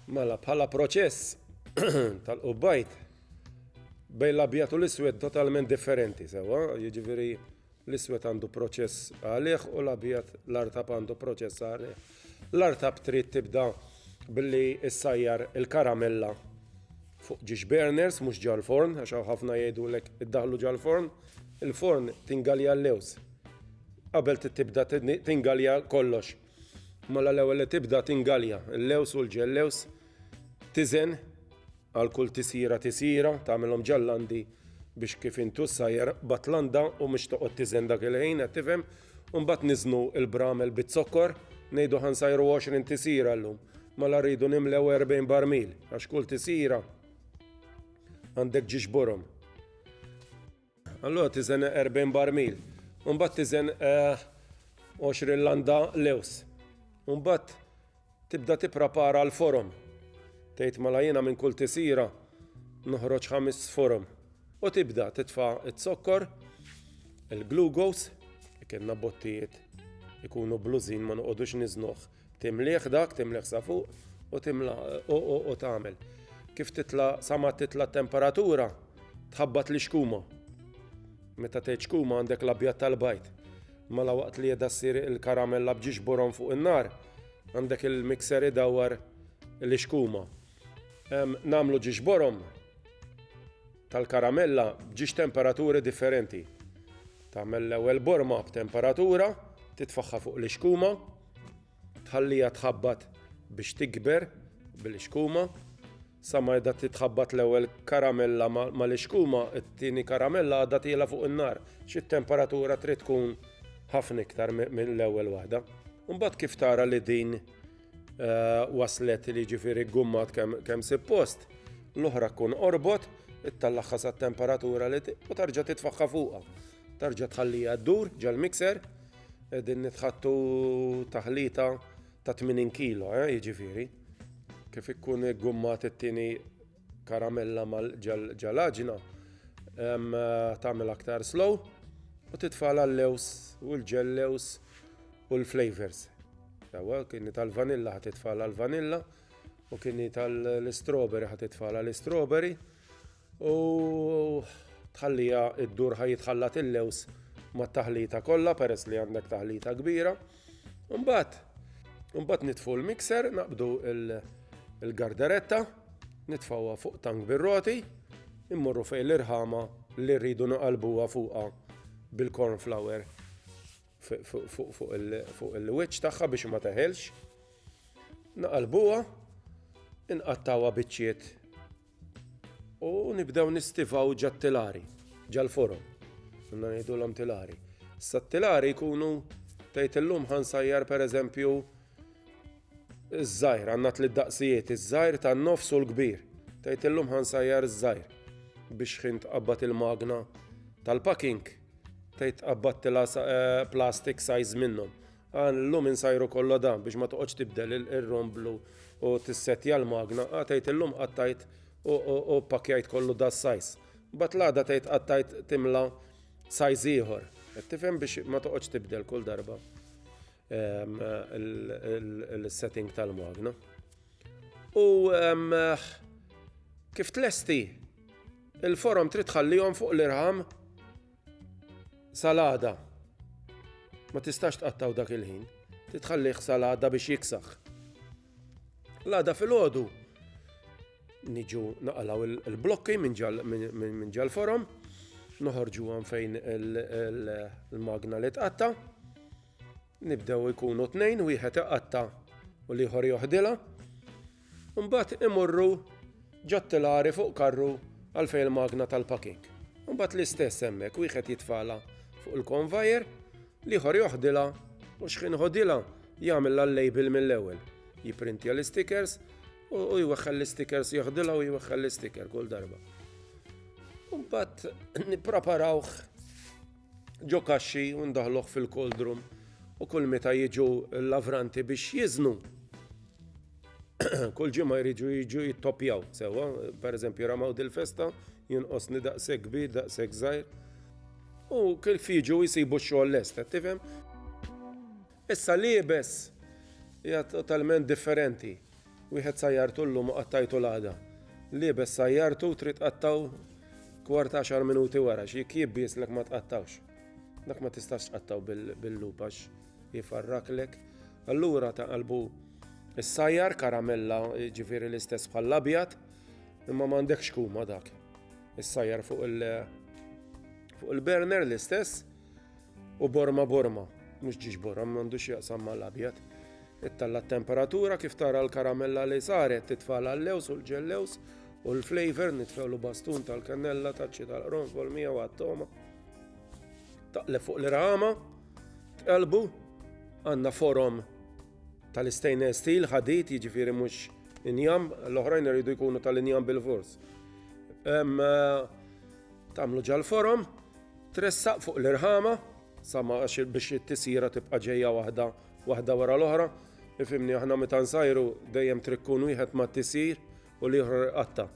Mela, bħala proċess tal-qubbajt bejn l-abjad u l-iswed totalment differenti, sewa, jiġifieri l-iswed għandu proċess għalih u l-abjad l-artab għandu proċess għalih. L-artab trid tibda billi issajjar il-karamella fuq ġiex burners, mhux ġal-forn, għax hawn ħafna jgħidulek iddaħlu ġal-forn, il-forn tingalja l-lews. Qabel tibda tingalja kollox Mela l-ewwel li tibda tingalja l-lews u l-ġellews tiżen għal kull tisjira tisjira tagħmilhom ġallandi biex kif intu sajjer batlanda u mhux toqgħod tiżen dak il-ħin qed tifhem u mbagħad niżnu l-bramel biz-zokkor ngħidu ħansajru 20 tisjira llum mela rridu nimlew 40 barmil għax kull tisjira għandek ġiġburhom. Allura tiżen 40 barmil. Mbagħad tiżen 20 eh, landa lews. Mbagħad tibda tipprepara l-forom. Tgħid mela jiena minn kull tisira noħroġ ħames forom. U tibda titfa' it-zokkor, il-glugos, ikenna bottijiet ikunu blużin ma noqogħdux niżnuh Timlieh dak, timlieh sa fuq u timla u tagħmel. Kif titla sa ma titla t-temperatura, tħabbat li xkuma. Meta tgħid xkuma għandek l-abjad tal-bajt. Mela waqt li jedha ssir il-karamella bġiex borom fuq in-nar, għandek il-mixer idawwar li xkuma. Namlu ġiex borom tal-karamella bġiex temperaturi differenti. Tagħmel l-ewwel borma b'temperatura, titfaħħa fuq li xkuma, Tħalliha tħabbat biex tikber bil-ixkuma sa ma qiegħda titħabbat l-ewwel karamella mal-ixkuma, it-tieni karamella għadha tiela fuq in-nar, xi temperatura trid tkun ħafna iktar mill-ewwel waħda. Mbagħad kif tara li din eh, waslet li ġifieri gummat kemm suppost, l-oħra tkun orbot, ittallaħħa sa temperatura li u tarġa' titfaħħa fuqha. Tarġa' tħallija ddur ġal-mixer Qegħdin nitħattu taħlita ta' 80 kilo, eh, jiġifieri. Kif ikkun gummat it-tieni karamella mal-ġalaġna, tagħmel aktar slow u titfala l-lews u l-ġellews u l-flavors. Ewa, kieni tal-vanilla ħat titfala l-vanilla u kieni tal-strawberry ħat titfala l-strawberry U tħallija id-dur ħaj jitħallat il-lews mat-taħlita kollha peress li għandek taħlita kbira. Mbagħad mbagħad nitfu l-mixer, naqbdu il-garderetta, nitfawha fuq tank bir-roti, immorru fejn l-irħama li rridu naqalbuha fuqha bil-corn flour fuq il-wiċċ tagħha biex ma teħelx. Naqalbuha, inqattawha biċċiet U nibdew nistivaw ġat-tilari, ġal-forom. Għanna ngħidulhom tilari. Issa t-tilari jkunu tgħid illum ħansajjar pereżempju iż-żgħir, għandna tliet daqsijiet, iż-żgħir tan-nofs u l-kbir. Tgħid illum ħansajjar iż-żgħir biex ħin tqabbad il-magna tal-packing tgħid tqabbad tilha plastik size minnhom. Għan illum insajru kollha dan biex ma toqgħodx tibdel ir-rom blu u tissettja l-magna, għad tgħid illum qattajt u pakkjajt kollu da sajs. Bat l-għada tgħid qattajt timla sajs ieħor. Qed tifhem biex ma toqgħodx tibdel kull darba ehm, il-setting tal-magna. U ehm, kif tlesti il-forom trid tħallihom fuq l-irħam Salada. Ma tistax tqattaw dak il-ħin. Titħallih salada biex jiksaħ. Lada fil-ħodu. Niġu naqalaw il-blokki minn ġal forom. Noħorġu għan fejn il-magna li tqatta. Nibdew ikunu tnejn, wieħed iqatta u l-ieħor joħdilha. Mbagħad imorru ġottilari fuq karru għal fejn il-magna tal-packing. Mbagħad l-istess hemmhekk wieħed jitfala fuq il-konvajer, l-ieħor joħdilha u xħin ħodilha jagħmel l-label mill-ewwel. Jiprintja l-stickers u jweħħel l-stickers joħdilha u jweħħel l-sticker kull darba. Mbagħad nippreparawh ġo kaxxi u ndaħluh fil-koldrum u kull meta jiġu l-lavranti biex jiżnu. kull ġimgħa jriġu jiġu jittopjaw sewwa, pereżempju ramaw dil-festa, jinqosni daqshekk kbir, daqshekk żgħir. U kif jiġu jsibu x-xogħol lest, tifhem? Issa liebes hija totalment differenti. Wieħed sajjartu llum u qattajtu l-għada. Liebes sajjartu u trid tqattgħu kwart għaxar minuti wara għax jekk jibbislek ma tqattgħux. Dak ma tistax tqattgħu bil-lub għax jfarraklek. Allura ta' qalbu ssajjar karamella ġifieri l-istess bħall-abjad imma m'għandekx kuma dak. Issajjar fuq il-burner l-istess U borma borma, mhux ġiex borra, m'għandux x'jaqsam mal-abjad. Ittalla t-temperatura kif tara l-karamella li saret titfa' l-allews u l-ġellews u l-flavor nitfewlu bastun tal-kannella taċċi tal-qronfol miegħu għat-toma. Taqleb fuq l-irħama, tqelbu, għandna forom tal-stainless steel ħadid jiġifieri mhux injam, l-oħrajn iridu jkunu tal-injam bil-fors. Eh, Tamlu ġal-forom, Tressaq fuq l-irħama, sa ma biex it-tisjira tibqa' ġejja waħda waħda wara l-oħra. Ifhimni aħna meta nsajru dejjem trikkun wieħed ma tisir u l-ieħor qatta.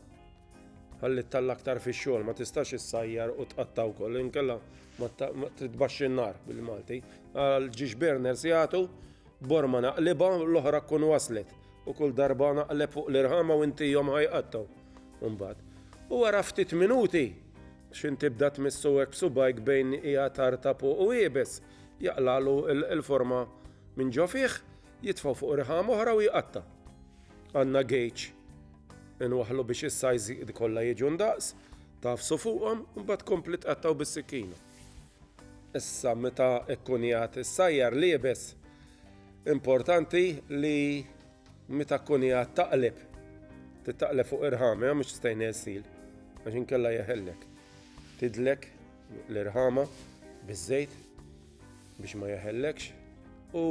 Ħalli ttalla aktar fix-xogħol, ma tistax issajjar u tqatta wkoll, inkella ma titbaxx in-nar bil-Malti. Għal ġiex burners jagħtu borma naqliba l-oħra tkun waslet u kull darba naqleb fuq l-irħama u intihom ħajqattaw. Imbagħad. U wara ftit minuti X'in tibda tmissu hekk b'subgħajk bejn qiegħed tartab u iebes? Jaqlagħlu l-forma minn ġo fih, jitfgħu fuq riħam oħra u jqatta'. Għandna gejġ. Inwaħħlu biex is-sajżiqdi kollha jiġu ndaqs, tagħfsu fuqhom u mbagħad tkompli tqattgħu bis-sikkina. Issa meta kkun qiegħed issajjar l-iebes, importanti li Meta tkun qiegħed taqleb, titaqleb fuq irħama mhux stajna sil, għax inkella jeħellek. Tidlek l-irħama biż-żejt biex ma jeħellekx u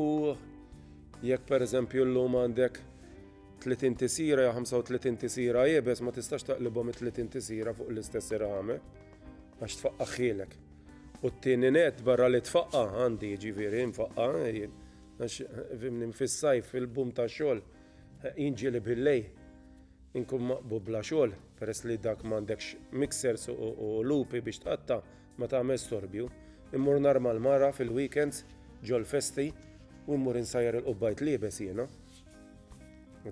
jekk pereżempju llum għandek 30 tisira jew 35 tisira jibes ma tistax taqlibhom it-30 tisira fuq l-istess irħame għax tfaqqa ħilek. U t-tieni net barra li tfaqqa għandi ġifieri nfaqqa Għax, fhimni, fis-sajf, fil-boom tax-xogħol, jien ġieli bil-lejl inkun maqbub bla xogħol, peress li dak m'għandekx mixers u lupi biex tqatta' ma tagħmel storbju. Immur narma l-mara fil-weekends, ġol-festi, u mmur insajjar il-qubbajt liebes jiena.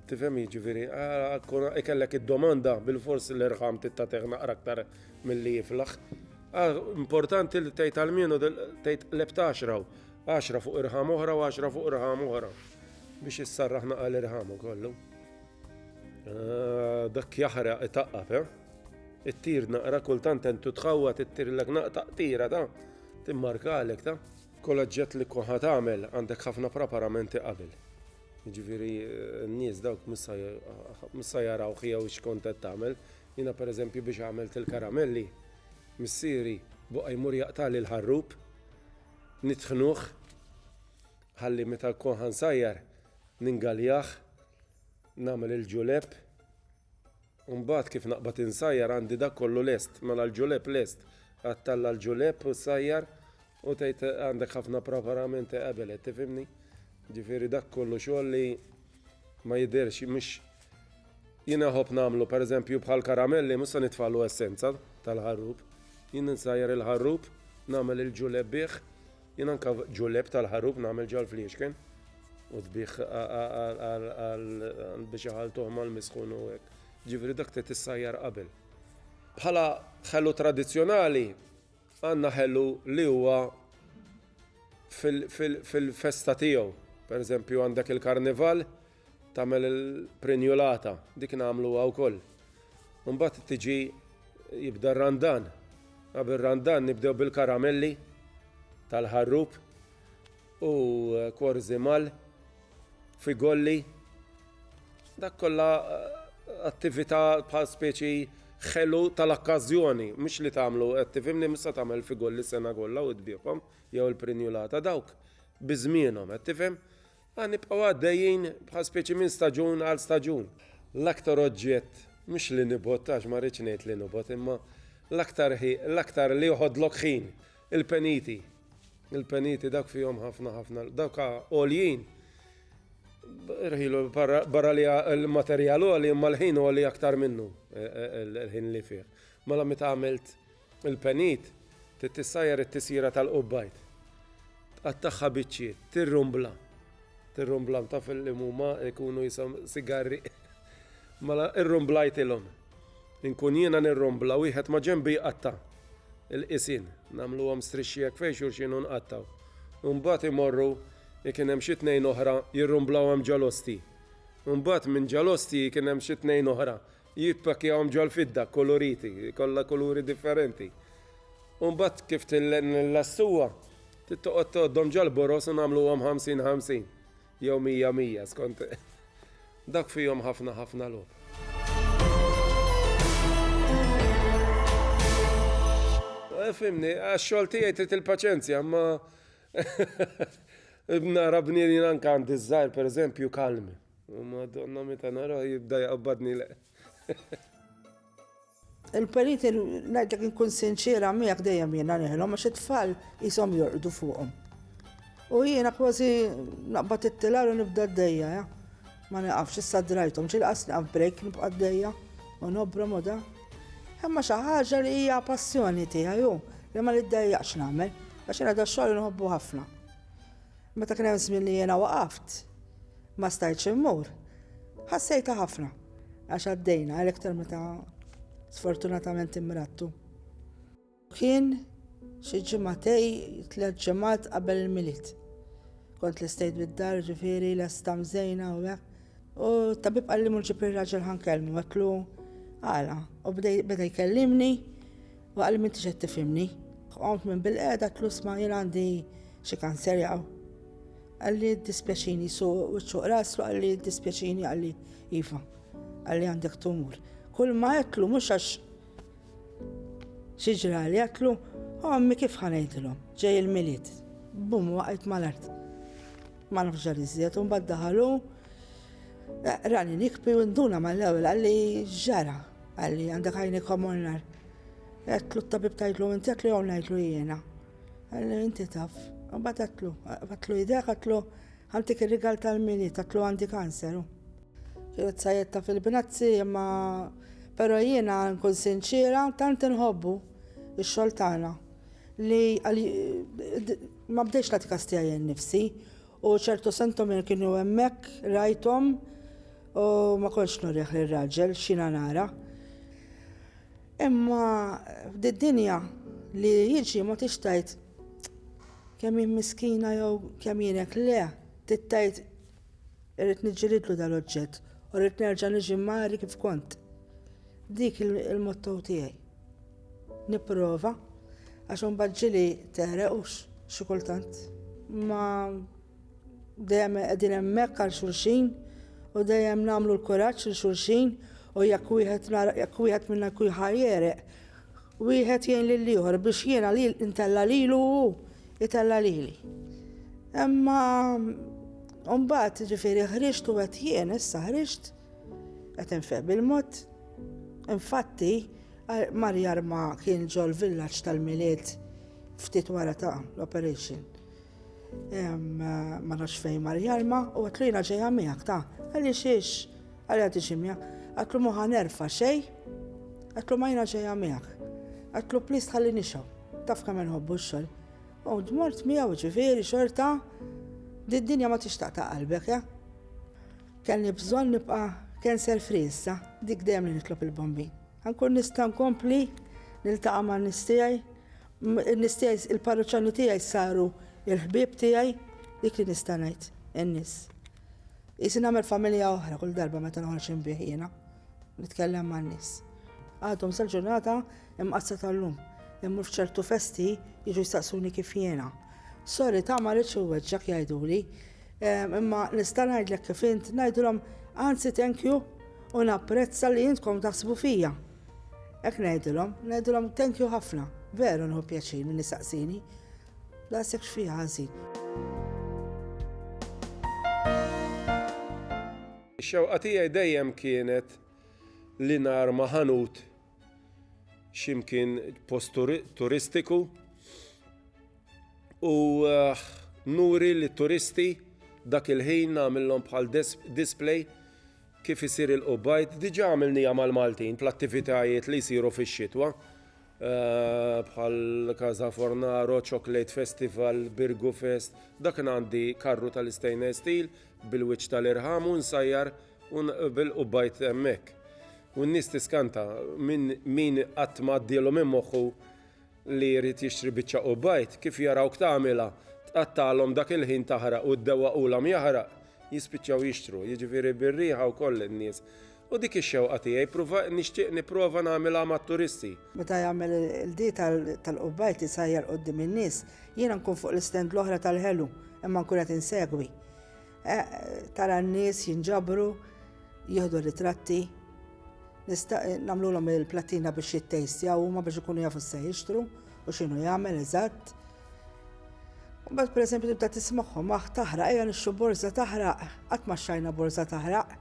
Tifhem jiġifieri, ah, ikellek id-domanda bil-fors l-irħam tittateħ naqra aktar milli jiflaħ. Ah, importanti li tgħid għal-minu tgħid lebt għaxra, għaxra fuq irħam oħra u għaxra fuq irħam oħra biex issarraħ naqra l-irħam kollu. Ah, dak jaħraq itaqqab, eh? It-tir naqra kultant entu tħawwa tittirlek naqtaq tira ta' timmarkalek ta' F'kull oġġett li tkun ħa tagħmel għandek ħafna praparamenti qabel. Jiġifieri n-nies dawk mhux sa jarawh jew x'kont qed tagħmel. Jiena pereżempju biex għamilt il-karamelli, missieri boqa' jmur jaqtagħli l-ħarrub, nitħnuh ħalli meta nkun ħa nsajjar ningaljah, nagħmel il-ġulepp. U mbagħad kif naqbad insajjar għandi dak kollu lest, mela l-ġulep lest. Għattalla l-ġulep u sajjar u tgħid għandek ħafna preparamenti qabel qed tifhimni. Ġifieri dak kollu xogħol li ma jidhirx mhux jiena ħobb nagħmlu pereżempju bħal karamelli mhux se nitfagħlu essenza tal-ħarrub. Jien insajjar il-ħarrub, nagħmel il-ġulep bih Jien anke f'ġulleb tal-ħarub nagħmel ġall fliexken u dbih għal biex iħaltuh mal-misħun u hekk. Ġifieri dak trid issajjar qabel. Bħala ħelu tradizzjonali għandna ħelu li huwa fil-festa tiegħu. Per eżempju għandek il-karnival Tagħmel il-prinjulata, dik nagħmluha wkoll. Imbagħad tiġi jibda r-randan. Qabel randan nibdew bil-karamelli tal-ħarrub u kwarzi mal, figolli. Dak kollha eh, attività bħal speċi ħelu tal-okkażjoni, mhux li tagħmlu qed tifhimni mista tagħmel figolli sena kollha u tbieħhom jew il-prinjulata dawk biżmienhom qed tifhem Aħna nibqgħu għaddejjin bħal speċi minn staġun għal staġun. L-aktar oġġett, mhux li nibgħod għax ma rridx ngħid li nibgħod, imma l-aktar ħi, l-aktar li joħodlok ħin, il-peniti. Il-peniti dawk fihom ħafna ħafna, dawk għoljin. Rħilu barra li l-materjal għoli imma l-ħin għoli aktar minnu, il-ħin li fih. Mela meta għamilt Il-penit, trid tissajjar it-tisjira tal-qubbajt. Tqattagħha biċċiet, tirrumbla. Tirrumbla taf li huma jkunu jisom sigarri. Mela irrumblajtilhom. Inkun jiena nirrumbla wieħed ma' ġenbi jqatta' il-qisin, nagħmluhom strixxiek fejn xulxin u nqattaw. Imbagħad imorru kien hemm xi tnejn oħra jirrumblawhom ġalosti. Imbagħad minn ġalosti kien hemm xi tnejn oħra Jippakkjahom ġol-fidda kkuluriti, kollha kuluri differenti. U mbagħad kif nillassuha, trid toqgħod tgħoddhom ġol-boroż u nagħmluhom ħamsin ħamsin jew mija mija skont dak fihom ħafna ħafna logħob. Fhimni, għax-xogħol tiegħi trid il-paċenzja, imma nara bniedmin anke għandi ż-żgħir pereżempju kalmi. U madonna meta nara jibda jaqbadni le. Il-perit ngħidlek inkun sinċiera miegħek dejjem jiena neħlhom għax it-tfal qishom jorqdu fuqhom. U jiena kważi naqbad it-tilar u nibda d-dejja, ja. Ma naqafx issa drajthom, ġilqas naqaf break nibqa' d-dejja u nobra moda. Imma xi ħaġa li hija passjoni tiegħi hu li ma niddejjaqx nagħmel għax jiena da xogħol inħobbu ħafna. Meta kien hemm żmien li jiena waqaft, ma stajtx immur, ħassejtha ħafna għax għaddejna għalhekk tal meta sfortunatament imrattu. Kien xi ġimgħatej tliet ġimgħat qabel il-Milied. Kont lestejt bid-dar ġifieri lesta mżejna u hekk. U tabib qalli mur ġib ir-raġel ħa nkellmu, għedtlu għala. U beda jkellimni U qalli m'intix qed tifhimni. Qomt minn bil-qiegħda għedtlu isma' jien għandi xi kanser jaqaw. Qalli jiddispjaċini su wiċċu u rasu qalli jiddispjaċini qalli iva. Qalli għandek tumur. Kull ma għedtlu mhux għax xi ġrali għedtlu ommi kif ħanejdilhom ġej il-milied. Bum waqgħet mal-art. Ma nafx ġar iżjed u mbagħad daħalu rani nikpi u nduna mal-ewwel qalli ġara. Għalli għandek għajni komunnar. Għetlu t-tabib tajtlu inti għetlu għon għetlu jiena. Għalli inti taf. Għabat għetlu, għetlu idek għetlu għantik il-rigal tal-mini, għetlu għandi kanser. Kienet sajetta fil-binazzi, ma pero jiena nkun sinċira, tant nħobbu il-xoltana li ma bdex la t-kastija jen nifsi U ċertu sentomer kienu hemmhekk, rajthom, u ma kontx nurih lir-raġel x'jiena nara. Imma f'did-dinja li jiġi ma tix tgħid kemm hi miskina jew kemm jien hekk le, trid tgħid irrid niġġilidlu dal-oġġett u rrid nerġa' niġi mgħari kif kont. Dik il-motto tiegħi. Nipprova, għax imbagħad ġieli tegħreq u xi kultant. Ma dejjem qegħdin hemmhekk għal xulxin u dejjem nagħmlu l-kuraġġ lil xulxin u jekk wieħed jekk wieħed minna jkun ħajjereq, wieħed jgħin lil ieħor biex jiena li ntella' lilu u jtella' lili. Imma mbagħad ġifieri ħriġt u qed jien issa ħriġt qed infeq bil-mod. Infatti, Mar jarma kien ġol-villaġġ tal-Milied ftit wara ta' l-operation. Ma nafx fejn mar jarma u għatlu jiena ġejja miegħek ta' għalli xiex għalli għati ximja. Għatlu muħa nerfa xej, għatlu ma jiena ġejja miegħek. Għatlu plis tħalli nixaw, taf kemm nħobbu x-xogħol. U dmort miegħu ġifieri xorta, d-dinja ma tixtaq ta' qalbek, ja? Kellni bżonn nibqa' cancel free issa, dik dejjem li nitlob il-Bombin. Ħa nkun nista' nkompli niltaqa' man-nies tiegħi, in-nies tiegħi il-parruċċani tiegħi saru l-ħbieb tiegħi, dik li nista' ngħid, in-nies. Qisi nagħmel familja oħra kull darba meta noħroġ inbigħ jiena, nitkellem man-nies. Għadhom sal-ġurnata Imqassra tal-lum. Immur f'ċertu festi jiġu jistaqsuni kif jiena. Sorry ta' ma rridx inweġġgħek jgħiduli. Imma nista' ngħidlek kif int ngħidulhom anzi thank you u napprezza li intkom taħsbu fija. Hekk ngħidulhom, ngħidulhom thank you ħafna. Veru nieħu pjaċir min jistaqsini. Daqshekk x'fiha ħażin. Ix-xewqa tiegħi dejjem kienet li narma ħanut x'imkien post turistiku u eh, nuri li turisti dak il-ħin nagħmilhom bħal display kif isir il-qubajt. Diġà għamilnija mal-Maltin bl-attivitajiet li jsiru fix-xitwa eh, bħal Kaza Fornaro, Chocolate Festival, Birgu Fest, dak għandi karru tal-istainless steel bil-wiċċ tal-irħam u nsajjar U naqbel u bajt hemmhekk. U n-nies tiskanta minn min qatt ma għaddielhom minn moħħu li jrid jixtri biċċa u bajt, kif jarawk tagħmilha, tqattagħlhom dak il-ħin taħraq u ddewwaqulhom jaħraq, jispiċċaw jixtru, jiġifieri bir-riħa wkoll in-nies. U dik ix-xewqa tiegħi, pruva, nixtieq nipprova nagħmilha mat-turisti. Meta jagħmel il-qdi tal-qubbajt isajjar quddiem in-nies, jiena nkun fuq l-istand l-oħra tal-ħelu, imma nkun qed insegwi. Eh, tara n-nies jinġabru, jieħdu ritratti, namlulhom il-platina biex jittejstjaw huma biex ikunu jafu se jixtru u x'inhu jagħmel eżatt. U bad pereżempju tibda tismagħhom aħ taħraq ejja nixxu borża taħraq, qatt ma xajna borża taħraq.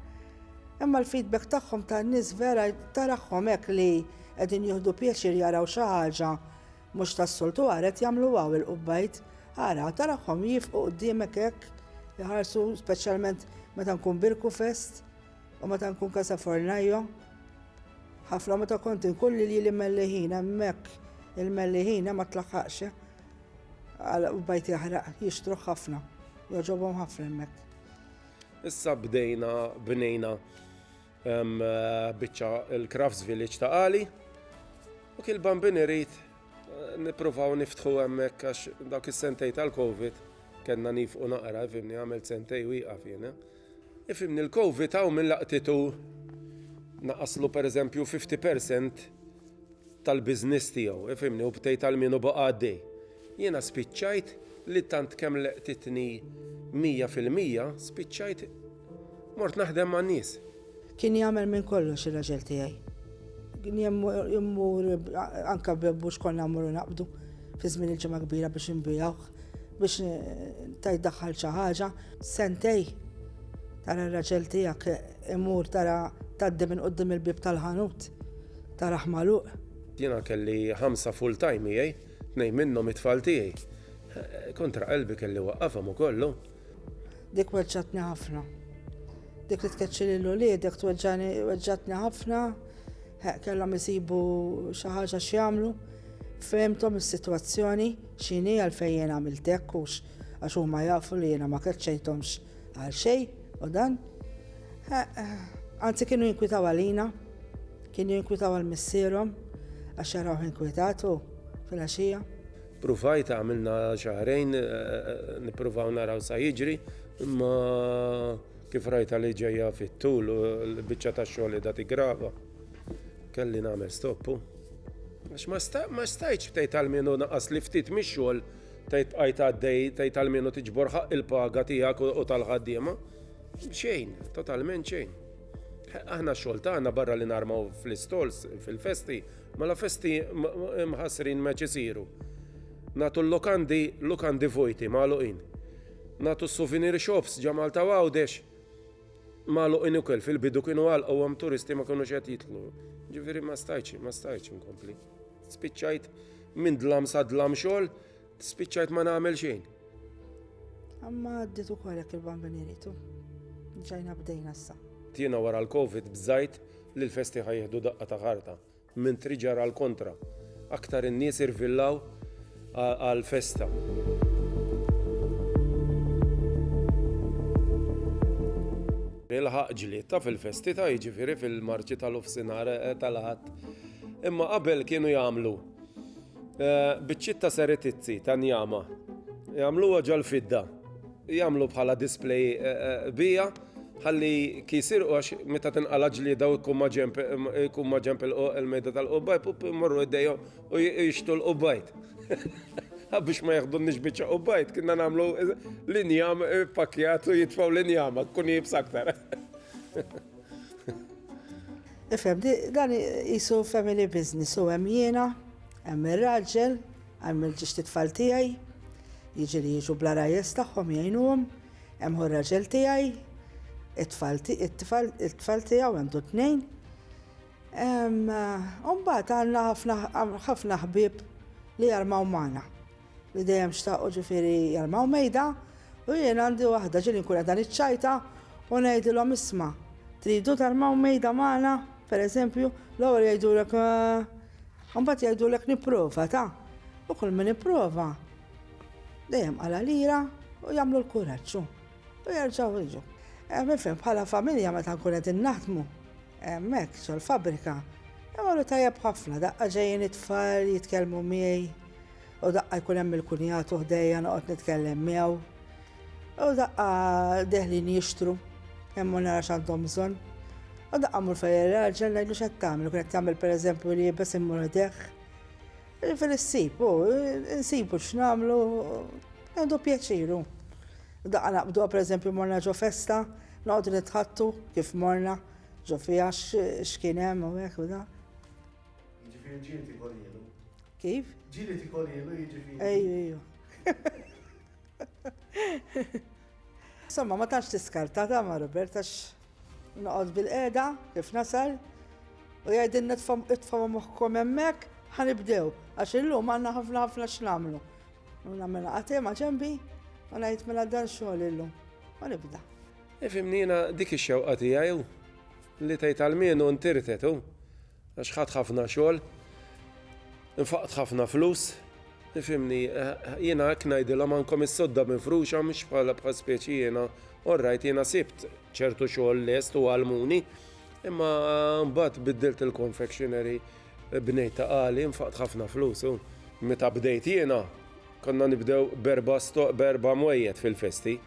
Imma l-feedback tagħhom tan-nies vera tarahom hekk li qegħdin jieħdu pjaċir jaraw xi ħaġa Mhux tas-soltu ara qed jagħmlu hawn il-qubbajt, ara tarahom jiefqu quddiemek hekk, iħarsu speċjalment meta nkun Birku Fest u meta nkun Casa Fornaio. Ħafna meta kont inkun lili li Mellihina hemmhekk il-Mellihina ma tlaħħaqx eh. għal qubbajt jaħraq jixtruh ħafna, jogħġobhom ħafna hemmhekk. Issa bdejna bnejna Biċċa il-Crafts Village ta' Qali. U kil bambin irid nippruvaw niftħu hemmhekk għax dawk is-sentej tal-Covid kellna nifqu naqra, fimni għamilt sentej wieqa fiena. Ifimni l-Covid hawn minn laqtitu naqaslu per eżempju 50% tal-biznis tiegħu, ifimni u btejt għal minu baqa' għaddej. Jiena spiċċajt li tant kemm leqtitni 100% spiċċajt Mort naħdem man-nies. Kien jagħmel minn kollox ir-raġel tiegħi. Immur anke b'bebbuġ konna mmorru naqbdu fi żmien il-Ġimgħa Kbira biex inbigħuh biex ta' jdaħħal xi ħaġa. Sentej tara r-raġel tiegħek imur tara tgħaddi minn quddiem il-bieb tal-ħanut tarah magħluq. Jiena kelli ħamsa full-time miegħi, tnejn minnhom it-tfal tiegħi. Kontra qalbi kelli waqqafhom ukoll hu. Dik weġġatni ħafna. Dik li tkeċċi lil uliedek tweġġani weġġatni ħafna. Kellhom isibu xi ħaġa x'jagħmlu. Fehmthom is-sitwazzjoni x'inhi għalfejn jien għamilt hekk hux għax huma jafu li jiena ma keċċejthomx għal xejn u dan. Anzi kienu jinkwitaw għalina, kienu jinkwitaw għal missierhom għax jaraw inkwitat u fil-għaxija. Pruvajt għamilna xahrejn nippruvaw naraw sa jiġri, imma kif rajta li ġejja fit-tul u l-biċċa tax-xogħol qiegħda tiggrava, kelli nagħmel stoppu. Għax ma stajtx tgħid għal min hu naqasli ftit mix-xogħol tgħid bqajt għaddej tgħid għal min hu tiġbor ħaqq il-paga tiegħek u tal-ħaddiema. Xejn, totalment xejn. Aħna x-xogħol tagħna barra li narmaw fl-istalls fil-festi, Mela festi mħassrin meċ isiru. Natu l-lukandi, lukandi vojti, magħluqin. Natu s-souvenir shops ġa Malta u Għawdex magħluqin ukoll fil-bidu kienu għalqu għam turisti ma kienu xed jitlu. Ġifieri ma stajċ, ma stajċ inkompli. Spiċċajt minn dlam sa dlam xogħol, Spiċċajt ma nagħmel xejn. Amma għaddit ukoll hekk il-bambini ritu. Ġajna bdejna issa. Tiena wara l-Covid bżajt li l-festi ħajħdu daqqa ta' ħarta. Minn triġar għal kontra. Aktar in-nies irvillaw għal festa. Ilħaq ġlied ta' fil-festi ta' jiġifieri fil-marċi tal-ofsinar eh, tal-ħadd. Imma qabel kienu jagħmlu Eh, biċċiet ta' seretizzi ta' njama. Jagħmluha ġal-fidda. Jagħmlu bħala display eh, eh, bija ħalli kisir għax meta tinqala ġlieda u jkun ma ġemp il-mejda tal-qubbajt u jmorru id-dejju u jixtu l-qubbajt. Biex ma jaħdu nix bieċa qubbajt, kienna namlu l-injam pakjat u jitfaw l-injama, kun jibs aktar. Ifhem, dan qisu family business, u hemm jiena, hemm ir-raġel, hemm il-ġixti tfal tiegħi, jiġieli jiġu bla ragħajjes tagħhom jgħinuhom, hemm hu r-raġel tiegħi, it-tfal it-tfal tiegħu għandu tnejn. U mbagħad għandna ħafna ħafna ħbieb li jarmaw magħna. li dejjem xtaqu ġifieri jarmaw mejda u jien għandi waħda ġieli nkun qiegħda niċċajta u ngħidilhom isma' tridu tarmaw mejda magħna pereżempju l-ewwel jgħidulek u mbagħad jgħidulek nipprova ta' u kull min ipprova dejjem għala lira u jagħmlu l-kuraġġ u jerġgħu jiġu. Mifhem bħala familja meta nkun qed innaħdmu hemmhekk ġol-fabrika imorru tajjeb ħafna daqqa ġejjin it-tfal jitkellmu miegħi U daqqa jkun hemm il-kunjatu ħdejja noqgħod nitkellem miegħu. U daqqa deħlin jixtru, hemm nara x'għandhom bżonn. U daqqa mur fejn ir-raġel ngħidlu x'qed tagħmel, kien qed tagħmel pereżempju li jibes immur deħ. Ġifieri ssib, u nsibu x'nagħmlu, għandu pjaċiru. Daqqa naqbdu pereżempju morna ġo festa, noqgħodu nitħattu kif morna, ġo fiha x'kien hemm u hekk u da. Jiġifieri ġieli tikolielu. Kif? Ġieli tikolielu jiġifieri. Ejju, ejju. Insomma, ma tax tiskarta ta' ma' Robert għax noqgħod bil-qeda kif nasal u jgħidilna tfaw moħħkom hemmhekk ħanibdew għax illum għandna ħafna ħafna x'namlu. U nagħmilha qatim ma' ġembi u ngħid mela dan xogħol illum. U nibda. Ifimnina dik ix-xewqa tiegħi li tgħid għal mienu ntirtetu. Għax ħadt ħafna xogħol, infaqt ħafna flus, tifhimni, jiena hekk ngħidilhom għandkom is-sodda mifruxa mhux bħala bħal speċi jiena, orrajt jiena sibt ċertu xogħol lest u għalmuni, imma mbagħad biddilt il-confectionery bnejt ta' qali, infaqt ħafna flus. Meta bdejt jiena, konna nibdew berba stoq berba mwejjed fil-festi.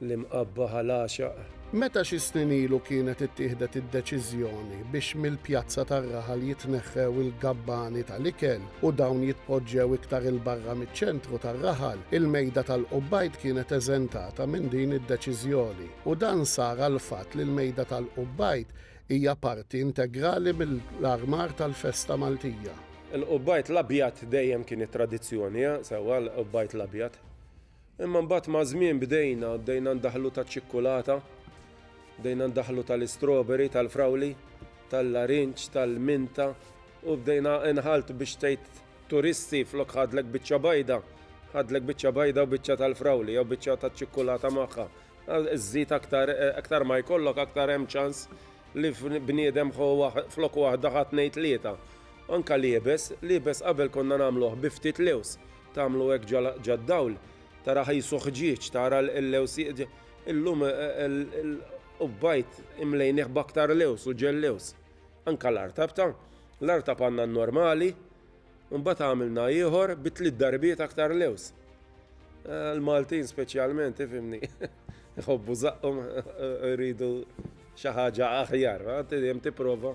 l-imqabba ħa l-għaxaq. Meta xi snin ilu kienet ittieħdet id-deċiżjoni biex mill-pjazza tar-raħal jitneħħew il-gabbani tal-ikel u dawn jitpoġġew iktar 'il barra miċ-ċentru tar-raħal, il-mejda tal-Qubbajd kienet eżentata minn din id-deċiżjoni u dan sar għall-fatt li l-mejda tal-Qubbajd hija parti integrali mill-armar tal-festa Maltija. Il-Qubbajd l-Abjad dejjem kien it-tradizzjoni, sewwa l-Qubbajd l-Abjad. Imma mbagħad maż-żmien bdejna, bdejna ndaħħlu taċ-ċikkulata, bdejna ndaħħlu tal-istroberi, tal-frawli, tal-larinġ, tal-minta u bdejna inħalt biex tgħid turisti flok ħadlek biċċa bajda, ħadlek biċċa bajda u biċċa tal-frawli jew biċċa taċ-ċikkulata magħha. Żżid aktar, aktar ma jkollok aktar hemm ċans li bniedem ħo flok waħda ħa tnejn tlieta. Anke l-iebes, l-iebes qabel konna nagħmluh bi ftit lewż. Tagħmlu hekk ġad-dawl, tara ħajsu ħġieġ, tara l-lewż jieqġa. Illum il-qubbajt imlejnih b'aktar lewż u ġell lewż. Anke l-artab ta'. L-artab għandna n-normali, u mbagħad għamilna ieħor bi tliet darbiet aktar lewż. Il-Maltin speċjalment, ifhimni, iħobbu żaqqhom, iridu xi ħaġa aħjar, dejjem tipprova.